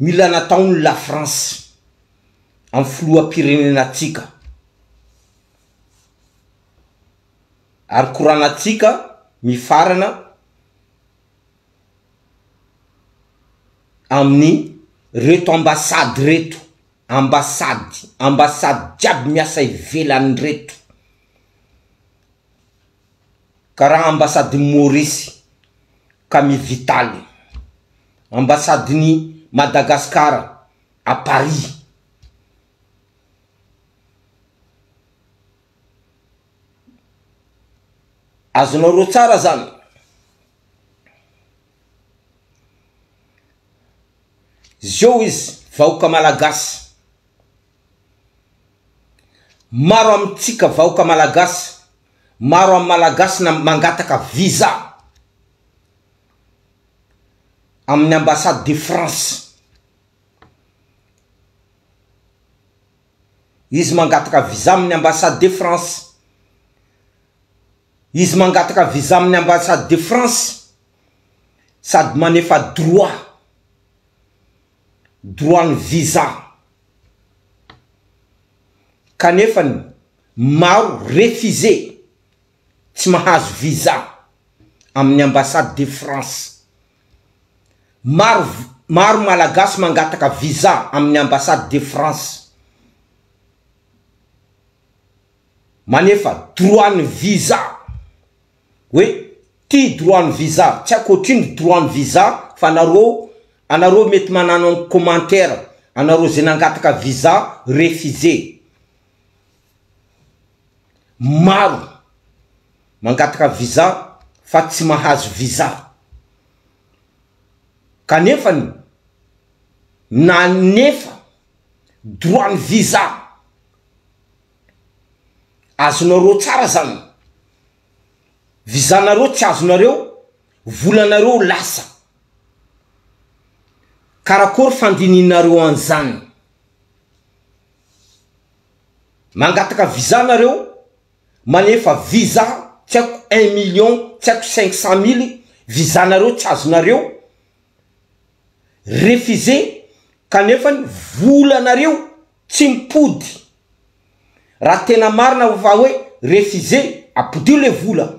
Mila nataon ny la France am filohampirenenatsika ary koranatsika mifarana am ny reto ambasady reto ambasady ambasady jiaby miasa ivelany reto. Ka raha ambasadin'i Maorisy Camille Vital, ambasadin'i Madagasikara à Paris, azonareo tsara zany, zeo izy vahoka malagasy, maro amintsika vahoka malagasy, Maro amin'ny Malagasy na mangataka visa amin'ny Ambassade de France. Izy mangataka visa amin'ny Ambassade de France. Izy mangataka visa amin'ny Ambassade de France sady manefa droit, droit ny visa. Kanefany Maro refusé, tsy mahazo visa amin'ny ambassade de France. Maro maro malagasy mangataka visa amin'ny ambassade de France manefa droit ny visa hoe ty droit ny visa tsy aiko otrino ny droit ny visa fa nareo anareo mety manano commentaire anareo zay nangataka visa refusé Maro mangataka visa fa tsy mahazo visa. Kanefa ny nanefa droit ny visa. Azonareo tsara zany. Visa nareo tsy azonareo, volanareo lasa. Karakory fandinihinareo an'zany. Mangataka visa nareo manefa visa tsy haiko un million tsy haiko cinq cent mille visa nareo tsy azonareo refusé kanefany volanareo tsy mipody raha tena marina fa hoe refusé apodio le vola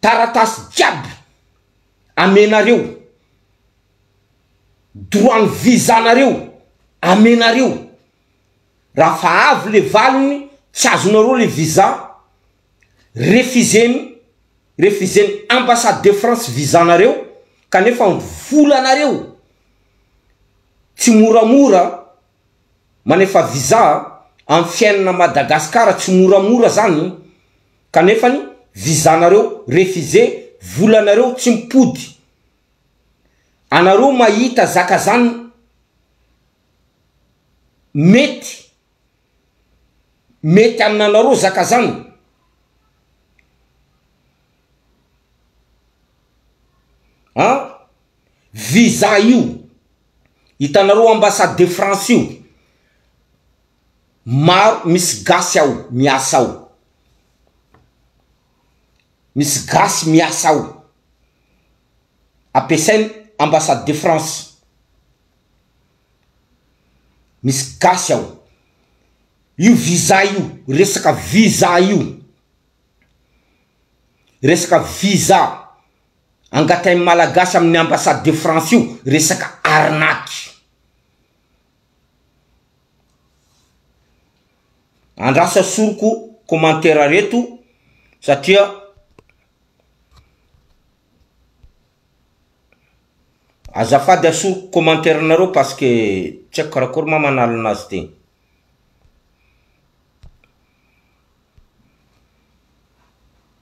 taratasy jiaby amenareo, droit ny visa nareo amenareo, raha fa avy le valiny tsy azonareo le visa refuseny refuseny ambassade de France visa nareo kanefa vola nareo tsy moramora manefa visa am fiainana Madagascar tsy moramora zany. Kanefa ny visa nareo refusé vola nareo tsy mipody anareo mahita zaka zan mety mety amn anareo zaka zan. An visa io hitanareo ambassade de France io. maro misy gasy ao miasa ao misy gasy miasa ao ampiasainy ambassade de France misy gasy ao io visa io resaka visa io resaka visa angatahin'ny malagasy amin'ny ambassade de France io resaka arnaque. Andrasa soroko commentaire reto satria azafady asoroko commentaire nareo parce que tsy haiko karakory ma manalo anazy ty.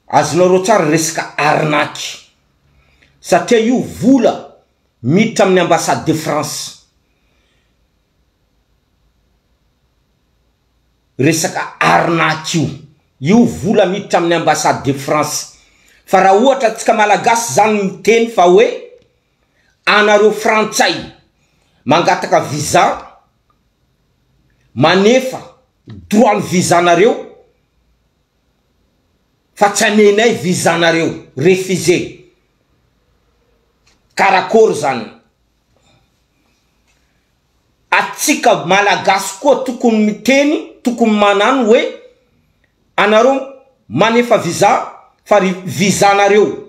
Azonareo tsara resaka arnaque satria io vola. Miditra amin'ny Ambassade de France resaka arnaque io. Io vola miditra amin'ny Ambassade de France. Fa raha ohatra antsika Malagasy izany miteny fa hoe anareo Frantsay mangataka visa, manefa droit ny visa-nareo, fa tsy amenay visa nareo, refusé. Karakory zany? Atsika malagasy koa tokony miteny, tokony manano hoe anareo manefa visa fa ry visa nareo.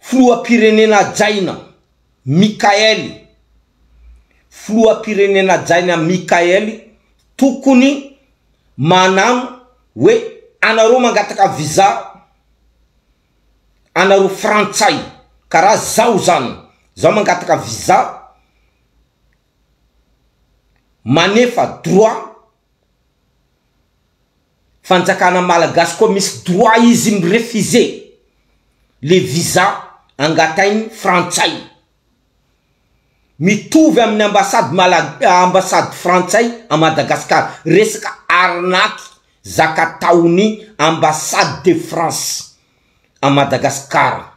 Filoham-pirenena hajaina, Mickaël Filoham-pirenena hajaina Mickaël tokony manano hoe anareo mangataka visa anareo frantsay karaha zaho zany zaho mangataka visa manefa droit fanjakana malagasy koa misy droit izy mi refuser le visa angatainy frantsay mitovy aminy ambassade malags ambassade frantsay a madagascar resaka arnaque zaka ataony ambassade de france a madagascar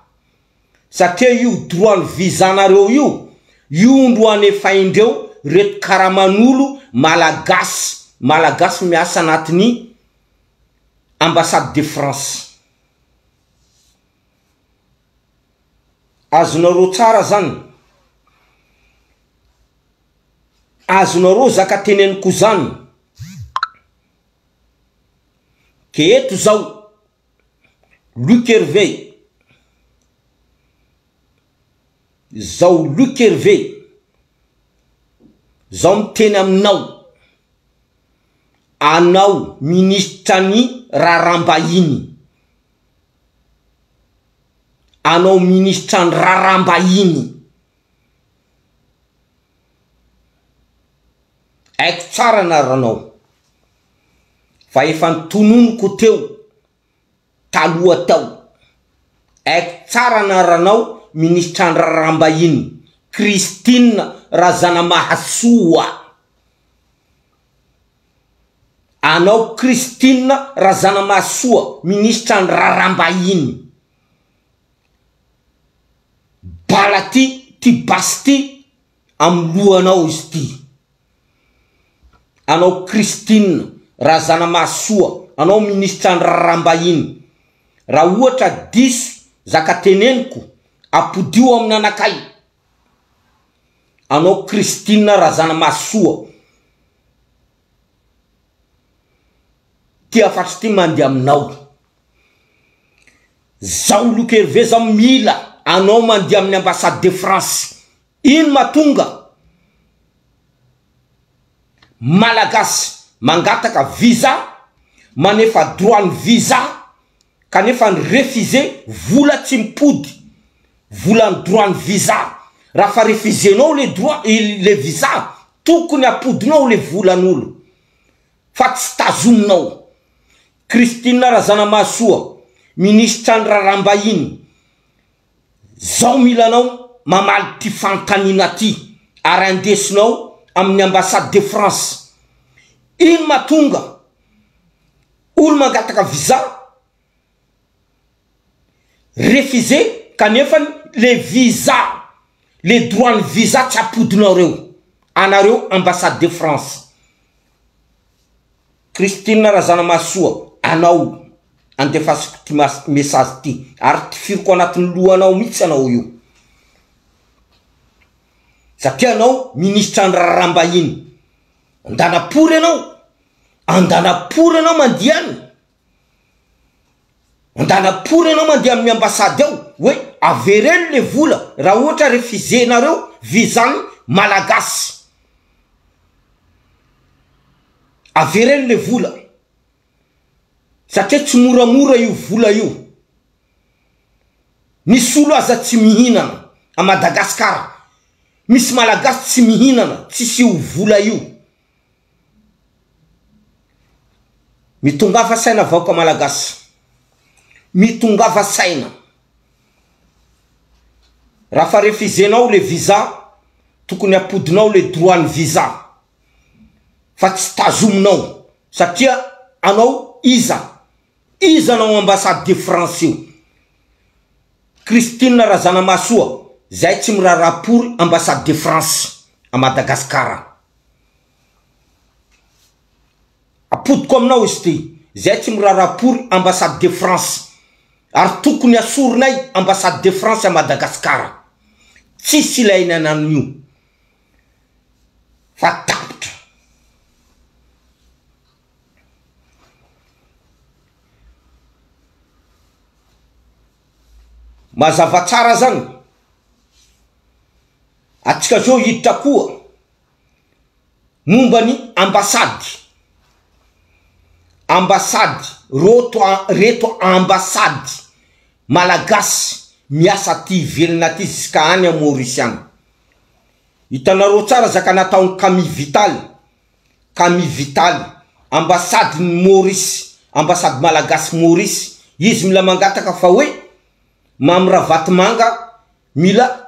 satria io droit ny visa nareo io io ndro anefaindreo reto karamanolo malagasy malagasy miasa anatiny ambassade de France azonareo tsara zany azonareo zaka teneniko zany ke eto zao Luc Hervé Zao Luc Hervé zao miteny aminao, anao ministra ny raharaham-bahiny, anao ministra ny raharaham-bahiny. Haiko tsara anaranao fa efa notononiko teo taloha tao. Haiko tsara anaranao ministra an-draharaham-bahiny Christine Razanamahasoa. Anao Christine Razanamahasoa ministra an-draharaham-bahiny. Bala ty ty basy ty amin'ny lohanao izy ty. Anao Christine Razanamahasoa anao ministra ny raharaham-bahiny raha ohatra diso zaka teneniko apodio amin'ny anakay anao Christine Razanamahasoa. Ty afatsy ty mandeha aminao. Zaho Luc Hervé zao mila anao mandeha amin'ny ambassade de France. Ino matonga Malagasy mangataka visa, manefa droit ny visa kanefa ny refusé vola tsy mipody volan'ny droit ny visa raha fa refusenao le droit le visa tokony apodinao le volan'olo fa tsy tazominao Christine Razanamahasoa ministra ny raharaham-bahiny Zao milanao mamaly ty fanontaniana ty ary andesonao amin'ny ambassade de France. Ino matonga olo mangataka visa refusé kanefany le visa le droit ny visa tsy apodinao reo anareo ambassade de France. Christine Razanamahasoa anao andefasiko ty message ty ary tifiriko anatin'ny lohanao mihitsy ianao io satria ianao ministra ny raharaham-bahiny andanam-pory ianao andanam-pory ianao mandihy any Andanapory ianao mandeha amin'ny ambassade ao hoe avereno le vola raha ohatra refuser nareo visa ny malagasy. Avereno le vola satria tsy moramora io vola io. Misy olo aza tsy mihinana a Madagascar. Misy malagasy tsy mihinana tsisy io vola io. Mitongafa saina vahoka Malagasy, mitongafa saina. Raha fa refizenao le visa, tokony apodinao le droit ny visa, fa tsy tazominao, satria anao iza, iza anao ambassade de France io, Christine Razanamahasoa, zay tsy miraharaha pory ambassade de France à Madagascar. Apodiko aminao izy ity. Izahay tsy miraharaha pory ambassade de France ary tokony asorinay ambassade de France à Madagascar. Tsisy ilaina ny an'io fa tapitra. Mazava tsara zany. Atsika zao hiditra koa. momba ny ambasady, ambasady, roto a, reto ambasady malagasy miasa aty ivelona aty ziska any a Maurice any. Hitanareo tsara zaka nataon'i Camille Vital, Camille Vital, ambasadin'i Maurice, ambasady malagasy Maurice, izy mila mangataka fa hoe Mamy Ravatomanga mila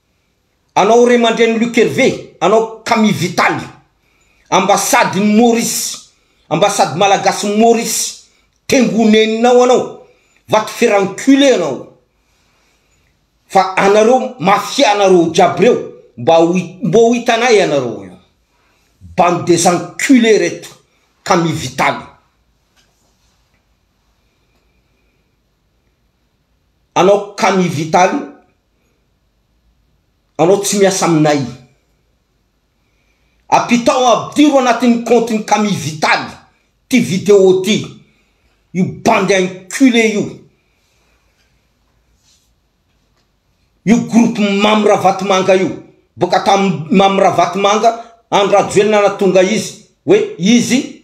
anao remandreny Luc Hervé, anao Camille Vital, ambassade ny Maurice, ambassade malagasy ny Maurice, tengo neninao anao, va te faire enculer anao, fa anareo mafia nareo jiaby reo mba ho mbo ho hitanay anareo eo, bande des encules reto Camille Vital. Anao Camille Vital. Anao tsy miasa aminay. Apitao ampidiro anatin'ny compte ny kami vitaly ty video ty io bandy enculé io io groupe mamy ravatomanga io boka tam mamy ravatomanga andry rajoelina natonga izy hoe izy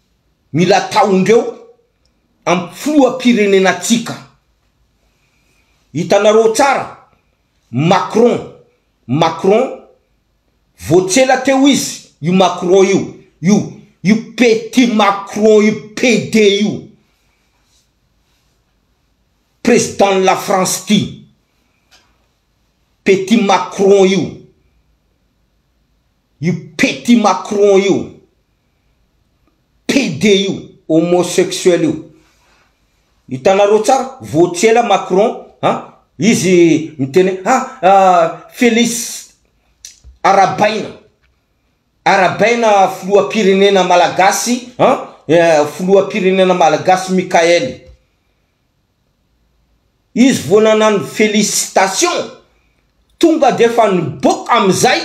Mila ataondreo am filohampirenenantsika. Hitanareo tsara Macron Macron vao tsy ela teo izy io Macron io io io petit Macron io PD io président ny la France ty petit Macron io Io petit Macron io, PD io, homosexuel io. Hitanareo tsara, vao tsy ela Macron an, izy miteny hoe ha Felix arabaina, arabaina filoham-pirenena malagasy an, filoham-pirenena malagasy Mickael. Izy vao nanano félicitation tonga dia efa niboaka amin'izay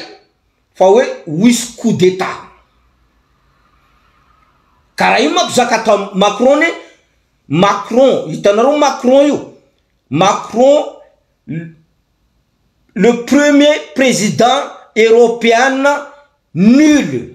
fa hoe ho hisy coup d'état. Ka raha io manko zaka atao Macron anie, Macron, hitanareo Macron io, Macron le premier président européen nul.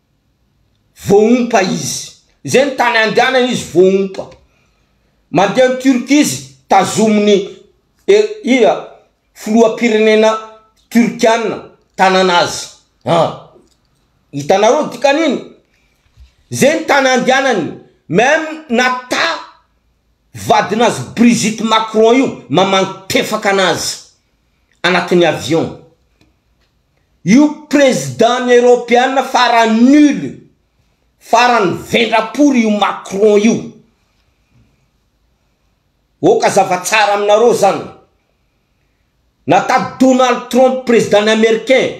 voaompa izy. Izay ny tany andehanany izy voaompa. Mandeha any Turquie izy, tazomin'ny iza, filoham-pirenena Turkiana tanana azy. Ah! Hitanareo ny dikan'iny? Izay ny tany andehanany. Même na ta vadin'azy Brigitte Macron io, mamangy tefaka an'azy. anatin'ny avion io président ny Europeana farany nul farany vendrapory io Macron io oka zava tsara aminareo zany na tato Donald Trump président ny Americain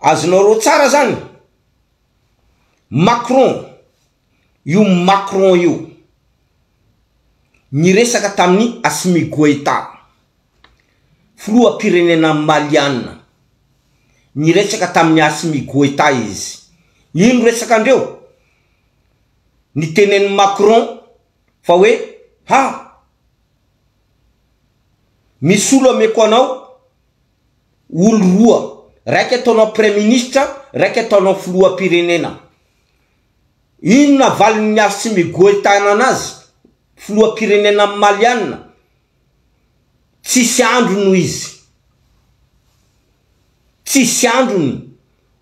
Azonareo tsara zany Macron io Macron io niresaka tamin'i Assimi Goita filoham-pirenena Maliana niresaka tamin'i Assimi Goita izy ino resakandreo nitenenin'i Macron fa hoe ha misy olo ameko anao olo roa, raiky ataonao praiministra, raiky ataonao filohampirenena. Inona valin'ny Assimi Goeta ananazy, filohampirenena malianina? Tsisy androny hoy izy. Tsisy androny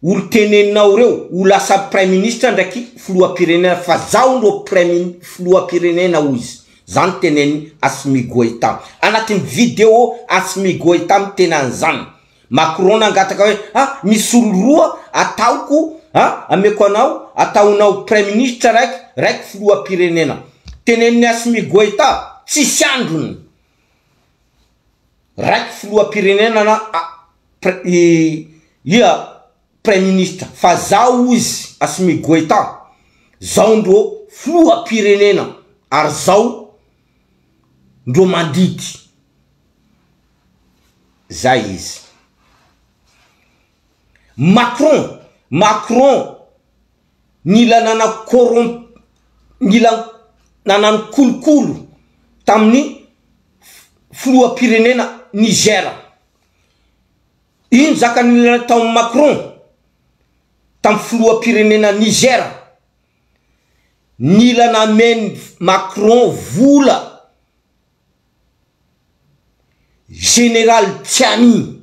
Olo teneninao reo ho lasa praiministra ndraiky filohampirenena fa zaho ro praimin filohampirenena hoy izy zany teneniny Assimi Goita anatin'ny video Assimi Goita mitena an'izany Macron nangataka hoe a misy olo roa ataoko a ameko anao ataonao praiministra raiky raiky filohampirenena teneniny Assimi Goita tsisy androny Raiky filohampirenenana a pre i ia praiminista fa zao izy Assimi Goita zao ndro filohampirenena ary zao ndro mandidy zay izy. Macron Macron Nila nanan corromp nila nanano kolokolo tamin'ny filoham-pirenena Niger. Ino zakan'ilay tao Macron tamin'ny filoham-pirenena Niger? Nila namen'i Macron vola Général Tchiani.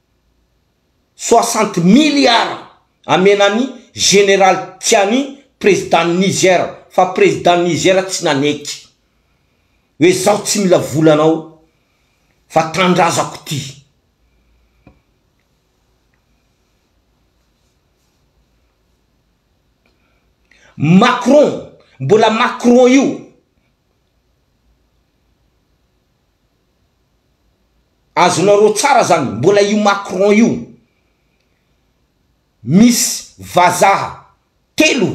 soixante milliards amena an'i Général Tiani Président Niger fa Président Niger tsy nanaiky hoe zaho tsy mila vola anao fa Tandrazako ty Macron mbola Macron io Azonareo tsara zany, mbola io Macron io misy vazaha telo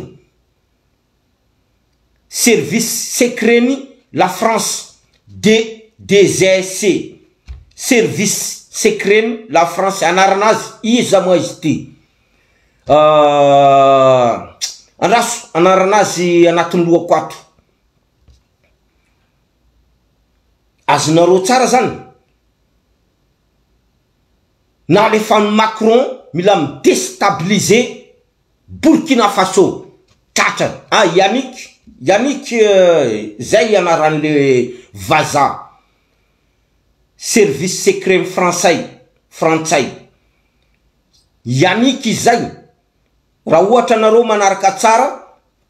service secret ny la France de DGSC service secret ny la France anarana azy iza moa izy ty andraso anarana azy anatin'ny lohako ato. Azonareo tsara zany na alefan'i Macron mila mi destabiliser Burkina Faso tratrany ah Yannick Yannick zay ianaran'le vaza service secretn'i Fransay frantsay Yannick izay Raha ohatra nareo manaraka tsara,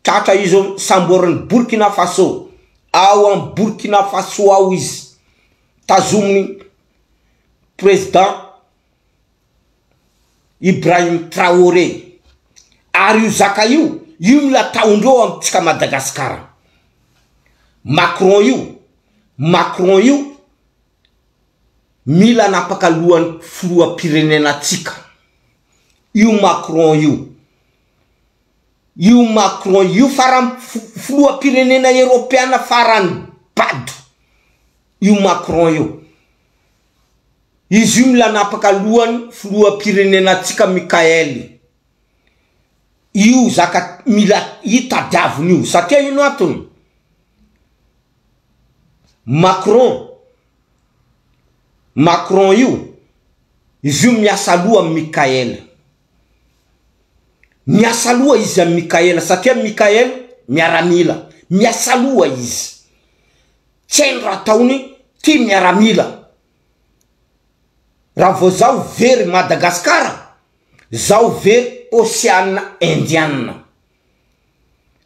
tratra izy eo samborin'i Burkina Faso, ao am Burkina Faso ao izy, tazomin'i Président Ibrahim Traoré, ary io zaka io, io no ataondreo amintsika Madagascar, Macron io, Macron io, Mila anapaka lohany filohampirenena tsika io Macron io. Io Macron io farany filohampirenena eropeana farany bado io Macron io. Izy io mila anapaka lohany filohampirenena tsika Michael io zaka mila hitadiaviny io satria ino antony? Macron Macron io, izy io miasa loha amin'i Mickaël. Miasa loha izy amin'i Mickaël satria Mickaël miaramila. Miasa loha izy. Tsy hainy raha ataony, tia miaramila. Raha vao izaho very Madagasikara, izaho very Oseana Indiana.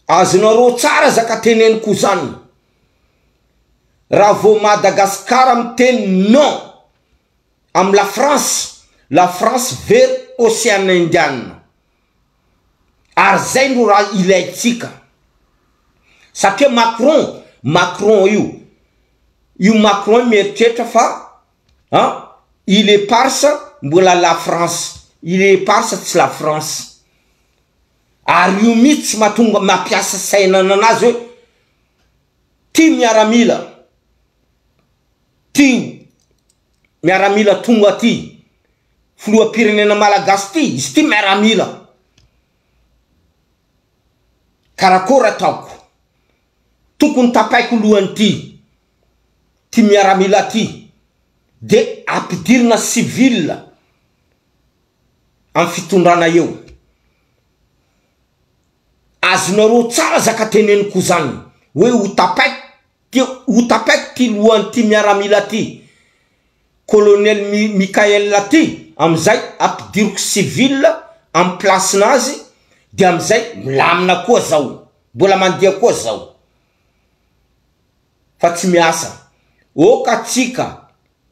Azonareo tsara zaka teneniko zany. Raha vao Madagascar miteny non am la France, la France very ocean indian. Ary zay no raha ilaintsika. Satria Macron, Macron io, io Macron io mieritreritra fa an, il eparsa mbola la France, il eparsa tsy la France. ary io mitsy matonga mampiasa saina nanazy hoe ty miaramila ty miaramila tonga aty filoha pirenena malagasy ty izy ty miaramila karakora ataoko tokony tapaiko lohany ty ty miaramila ty de ampidirina civile am fitondrana eo. Azonareo tsara zaka teneniko zany hoe ho tapaiko ty ho tapaiko ty lohan'ity miaramila ty colonel Mickaël ty amizay ampidiriko civil am place nazy de amizay milamina koa zao mbola mandeha koa zao fa tsy miasa ok atsika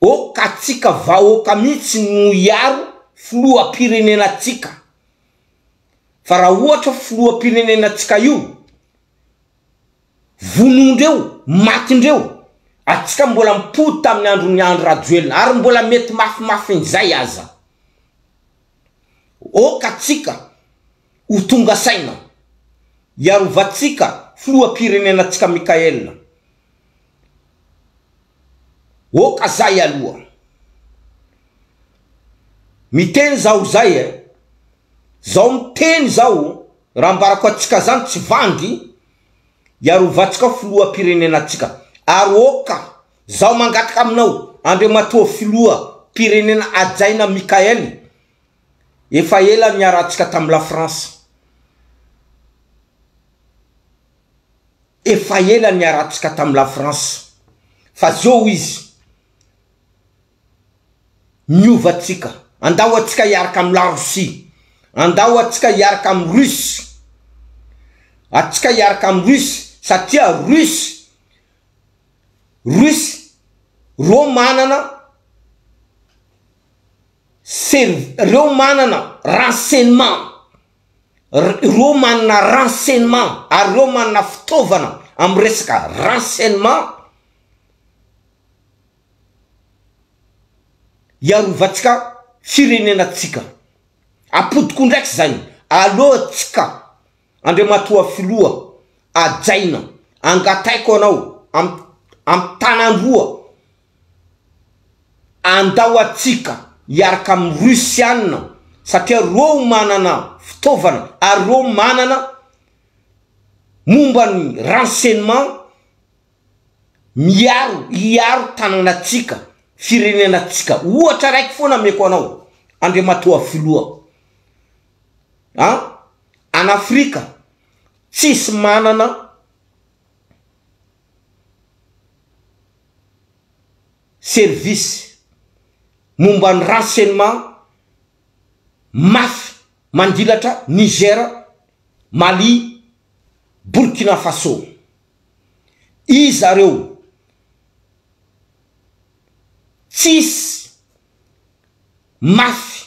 Oh ka tsika vahoaka mihitsy no hiaro filohampirenena tsika fa raha ohatra filohampirenena tsika io vonoindreo matindreo atsika mbola mipody tamin'ny andron'i Andry Rajoelina ary mbola mety mafimafin'izay aza oh ka tsika ho tonga saina hiarovantsika filohampirenena tsika Michael Oh ka zay aloha. Miteny zaho zay eh. Zaho miteny zaho raha ambarako atsika zany tsy vangy hiarovantsika filohampirenenatsika ary oh ka zaho mangataka aminao Andriamatoa filoha mpirenena hajaina Michael efa ela niarahantsika tam la France Efa ela niaratsika tam la France fa zao izy niova tsika andao atsika hiaraka am la Russie andao atsika hiaraka am Russe atsika hiaraka am Russe satria Russe Russe ro manana serv reo manana renseignement ireo manana renseignement ary ireo manana fitaovana amin'ny resaka renseignement hiarovantsika firenenantsika. Apodiko indraiky izay, aleontsika Andriamatoa Filoha hajaina, angataiko anao amin'ny amin'ny tananroa. Andao atsika hiaraka amin'ny Russiana satria reo manana fitaovana ary reo manana momba ny renseignement miaro hiaro tananatsika, firenenantsika. Ohatra raiky foana ameko anao Andriamatoa Filoha an, an Afrika tsisy manana. service momba ny renseignement mafy mandilatra Niger, Mali, Burkina Faso. Iza reo? Tsisy mafy.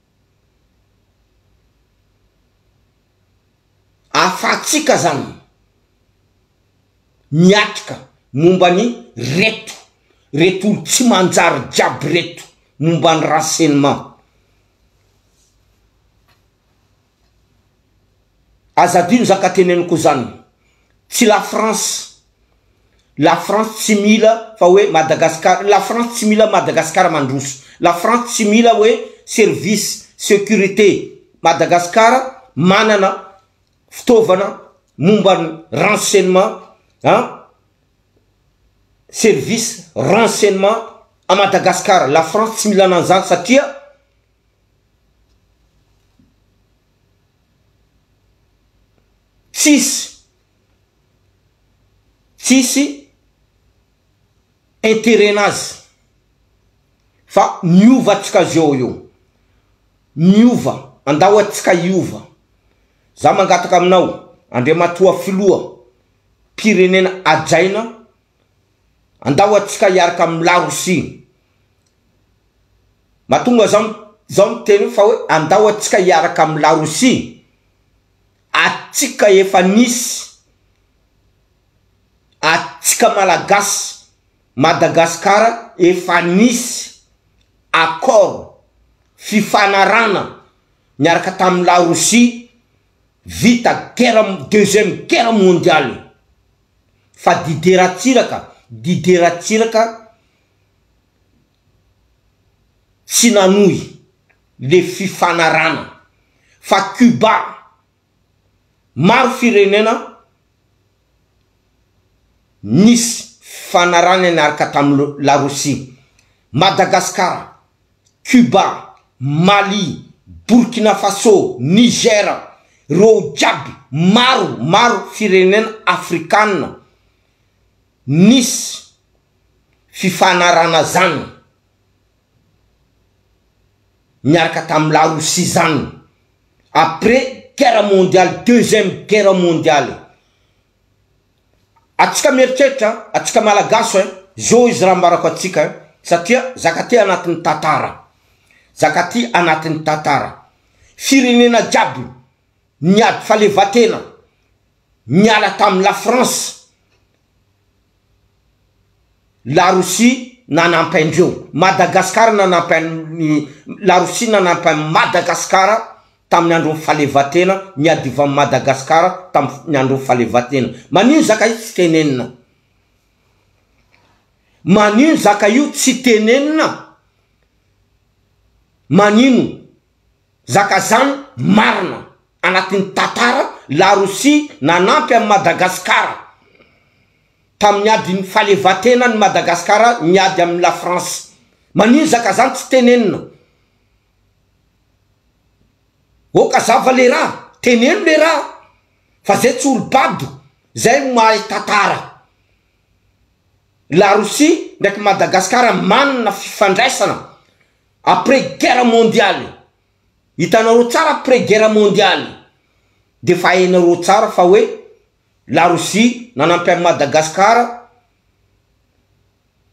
Ahafahantsika izany miatrika momba ny reto reto olo tsy manjary jiaby reto momba ny renseignement. Aza adino za ka teneniko zan tsy la France la France tsy mila fa hoe Madagascar la France tsy mila Madagascar mandroso la France tsy mila hoe service securite Madagascar manana fitaovana momban renseignement an service renseignement a Madagascar la France tsy mila ananzany satria Tsisy tsisy intérêt nazy fa miova atsika zao eo miova andao atsika hiova za mangataka aminao Andriamatoa filoha pirenena ajaina Andao atsika hiaraka amin'ny la Russie. Mahatonga zao zao miteny io fa hoe andao atsika hiaraka amin'ny la Russie. Atsika efa nisy. Atsika Malagasy, Madagasikara efa nisy accord, fifanarahana niaraka tamin'ny la Russie vita guerre deuxième guerre mondiale. fa Didier Ratsiraka, Didier Ratsiraka tsy nanohy le fifanarahana fa Cuba maro firenena nisy fifanarahana niaraka tamin'ny Larosia, Madagascar, Cuba, Mali, Burkina Faso, Niger, reo jiaby maro maro firenena afrikana nisy fifanarahana zany miaraka tamin'ny la Russie zany après guerre mondiale deuxième guerre mondiale. Atsika mieritreritra an! Atsika Malagasy an! Zo izy raha ambarako atsika an! Satria zakatia anatin'ny tantara. Zakatia anatin'ny tantara. Firenena jiaby niady falevatena niala tamin'ny la France, la Rosia nanampy andreo. Madagascar nanampy an'i la Rosia nanampy an'i Madagascar. tamin'ny andron'ny fahalevatena niadivan'i Madagasikara tamin'ny andron'ny fahalevatena. Manino zaka io tsy tenenina? Manino zaka io tsy tenenina? Manino zaka zany marina anatin'ny tantara la Russie nanampy an'i Madagasikara tamin'ny adin'ny fahalevatena an'i Madagasikara niady amin'i la France? Manino zaka zany tsy tenenina? Oh ka zava le raha, teneno le raha fa zay tsy olo bado zay no mahay tatara. La Russie ndraiky Madagascar manana fifandraisana après guerre mondiale, hitanareo tsara après guerre mondiale de fa hainareo tsara fa hoe la Russie nanampy an'i Madagascar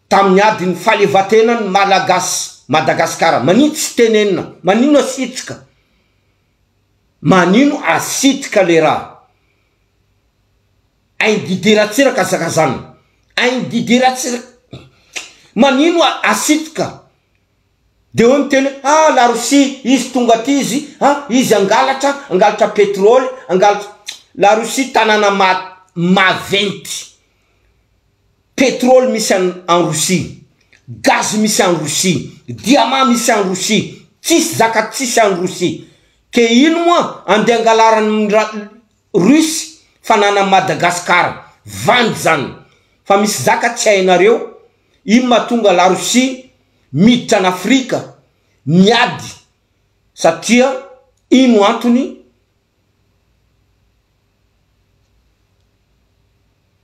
Tamin'ny adin'ny fahalevantenan'ny Malagasy Madagasikara manitsy tsy tenenina manino asitrika manino asitrika le raha ain Didier Ratsiraka azakazana ain Didier Ratsiraka manino asitrika dia hoe miteny hoe ha la Russie izy tonga aty izy ha izy hangalatra hangalatra petrole hangalatra la Russie tanàna ma maventy Petrol misy an an Rosia, gaz misy an Rosia, diamant misy an Rosia, tsisy zaka tsisy an Rosia. Ke ino moa ande angalaran ny ra Russie fanana an Madagascar. Vandy zany. Fa misy zaka tsy hainareo. Ino mahatonga la Rosia miditra an Afrika miady satria ino antony.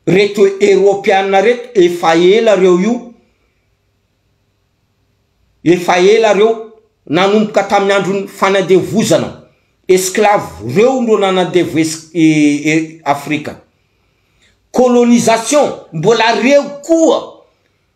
Reto eropeana reto efa ela reo io efa ela reo nanomboka tamin'ny andron'ny fanandevozana esclave reo no nanandevo Afrika colonisation mbola reo koa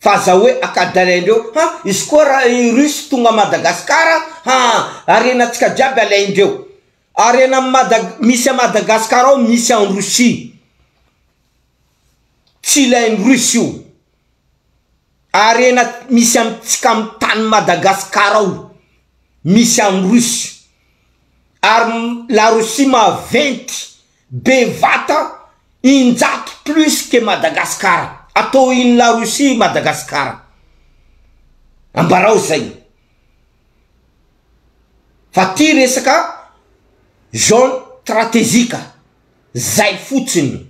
Fa aza hoe akadalaindreo ha izy koa ra i russe tonga madagascar a ha harenantsika jiaby alaindreo harena am madag misy a madagascar ao misy an russie tsy ilain russe io harena misy am tsika am tany madagascar ao misy am russe ary la russie maventy Bevata injato plus que Madagascar atao ino la Russie Madagascar ambarao zay fa ty resaka zone trategique zay fotsiny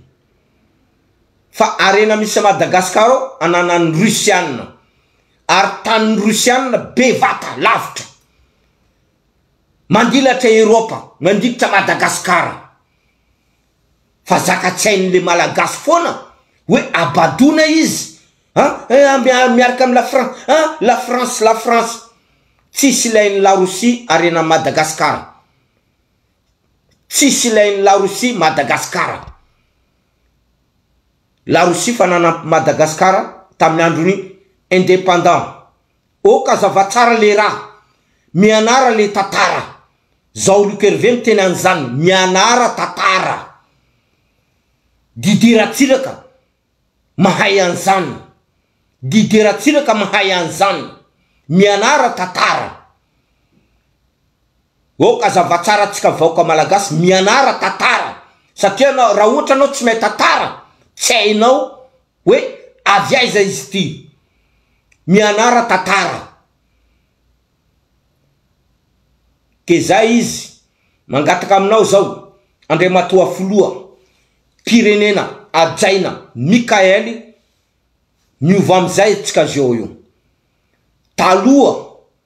fa arena misy a Madagascar ao ananan'ny Russiana ary tanin'ny Russiana bevata lavitra Mandilatra Europe mandikitra Madagascar fa zaka-tsain le Malagasy foana hoe abadoana izy an miaraka am la France an la France la France tsisy ilain la Rosia arenan Madagascar tsisy ilain la Rosia Madagascar la Rosia fa nanampy Madagascar tamin andron independant Ok azava tsara le ra. Mianara le tatara. Zao Luc Hervé miteny anzan mianara tatara. Didier Ratsiraka mahay anzan. Didier Ratsiraka mahay anzan. Mianara tatara. Ok azava tsara atsika vahoka malagasy mianara tatara satria anao raha ohatra anao tsy mahay tatara tsy hainao oe avy aiza izy ity mianara tatara de zay izy mangataka aminao zao andriamatoa filoha pirenena ajaina mikael miova amizay atsika zeo io taloha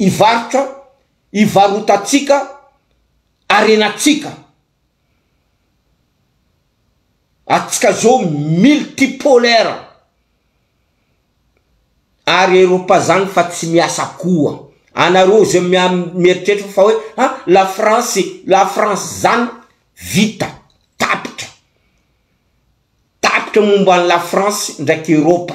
hivarotra, hivarotantsika, harenantsika. Antsika zao multipolaire. Ary Eropa zany fa tsy miasa koa. Anareo zay mieritreritra fa hoe ha la France, la France zany vita, tapitra. Tapitra momba an'i la France ndraiky Eropa.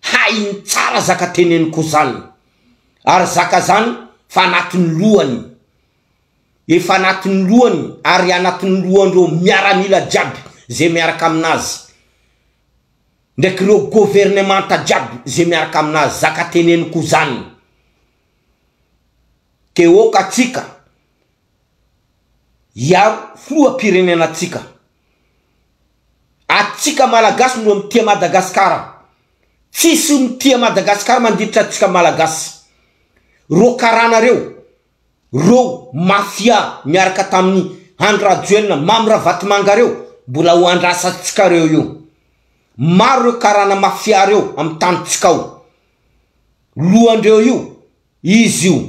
hainy tsara zaka teneny ko zany ary zaka zany fa anatiny lohany efa anatiny lohany ary anatiny lohany reo miaramila jiaby ze miaraka aminazy ndraiky reo governemanta jiaby ze miaraka aminazy zaka teneny ko zany ke oka tsika hiaro filoha pirenena tsika Atsika malagasy no mitia Madagascar. Tsisy mitia Madagascar mandiditra atsika malagasy. Reo karana reo, reo mafia miaraka taminy Andry Rajoelina, Mamy Ravatomanga reo mbola ho andrasantsika reo io. Maro reo karana mafia reo am tanintsika ao. Lohandreo io izy io.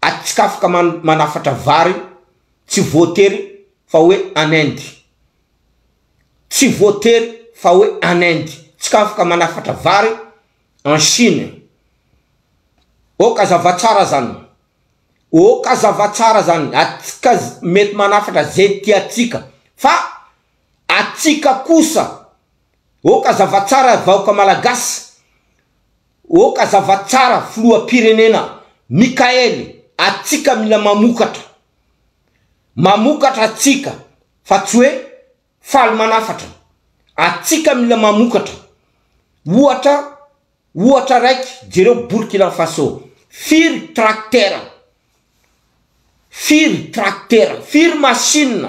atsikafoka manafatra vary tsy voatery fa hoe en Inde tsy voatery fa hoe en Inde tsikafoka manafatra vary en Chine ok zava tsara zany ok zava tsara zany atsika mety manafatra ze tiatsika fa atsika kosa ok zava tsara vahoka malagasy Ok hazava tsara filoha pirenena Mickael atsika mila mamokatra mamokatra atsika fa tsy hoe faly manafatra atsika mila mamokatra ohatra ohatra raiky jereo Burkina Faso firy tracteur firy tracteur firy machine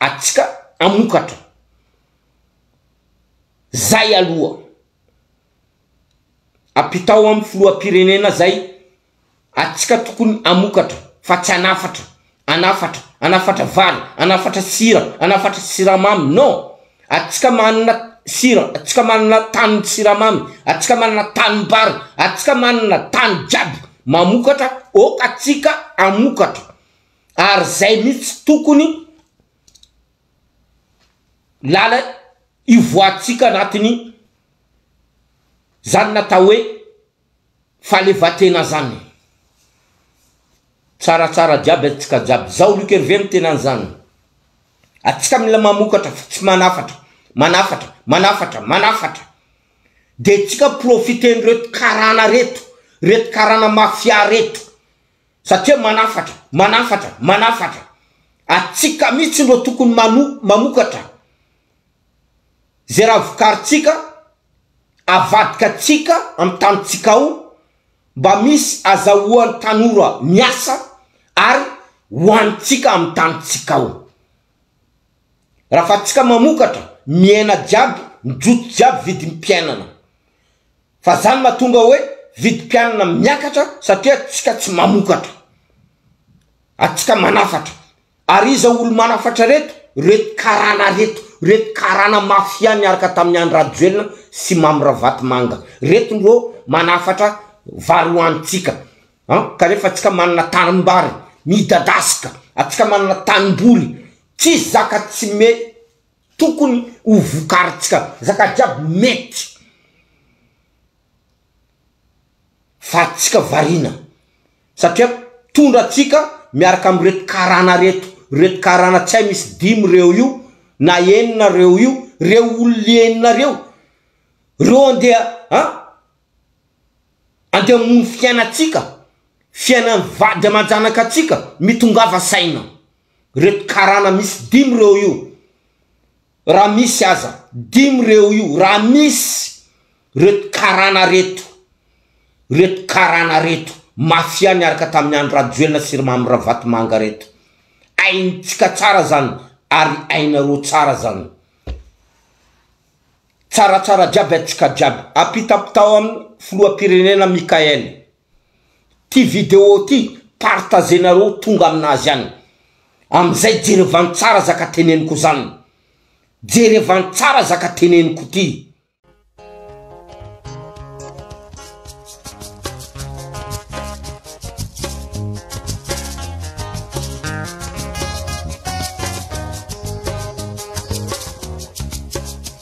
atsika amokatra zay aloha apitao am filohampirenena zay atsika tokony amokatra fa tsy anafatra anafatra anafatra vary anafatra sira anafatra siramamy non atsika manana sira atsika manana tany siramamy atsika manana tany bary atsika manana tany jiaby mamokatra ok atsika amokatra ary zay mihitsy tokony lala ivoahantsika anatiny zany natao hoe fahalevatena zany tsaratsara jiaby atsika jiaby zao luc herve no tena anzany atsika mila mamokatra fa tsy manafatra manafatra manafatra manafatra de tsika profiten reto karana reto reto karana mafia reto satria manafatra, manafatra, manafatra, atsika mitsy no tokony mano, mamokatra ze raha vokaritsika, avadika tsika am tanitsika ao, mba misy azahoan tanora miasa ary hoanitsika am tanitsika ao. Raha fa tsika mamokatra, mihena jiaby, mijojo jiaby vidim piainana. fa zany matonga oe vidim-pianana miakatra satria atsika tsy mamokatra atsika manafatra ary iza olo manafatra reto reto karana reto reto karana mafia niaraka tamin'ny Andry Rajoelina sy Mamy Ravatomanga reto ndro manafatra vary hoanintsika an kanefa atsika manana tanimbary midadasika atsika manana tanimboly tsisy zaka tsy me Tokony ho vokarintsika resaka jiaby mety fa tsika variana satria tondra tsika miaraka am reto karana reto reto karana tsy hay misy dimy reo io na enina reo io reo olona enina reo reo andeha a andeha amono fiainatsika fiainany vady aman-janaka tsika mitongava saina. Reto karana misy dimy reo io raha misy aza dimy reo io raha misy reto karana reto reto karana reto mafia niaraka tamin'i Andry Rajoelina sy ry Mamy Ravatomanga reto aintsika tsara zany ary ainareo tsara zany tsaratsara jiaby antsika jiaby apitapitao amin'ny filoham-pirenena Mickael ty vidéo ty partager nareo tonga aminazy any amizay jerevan tsara zaka teneniko zan jerevan tsara zaka teneniko ty.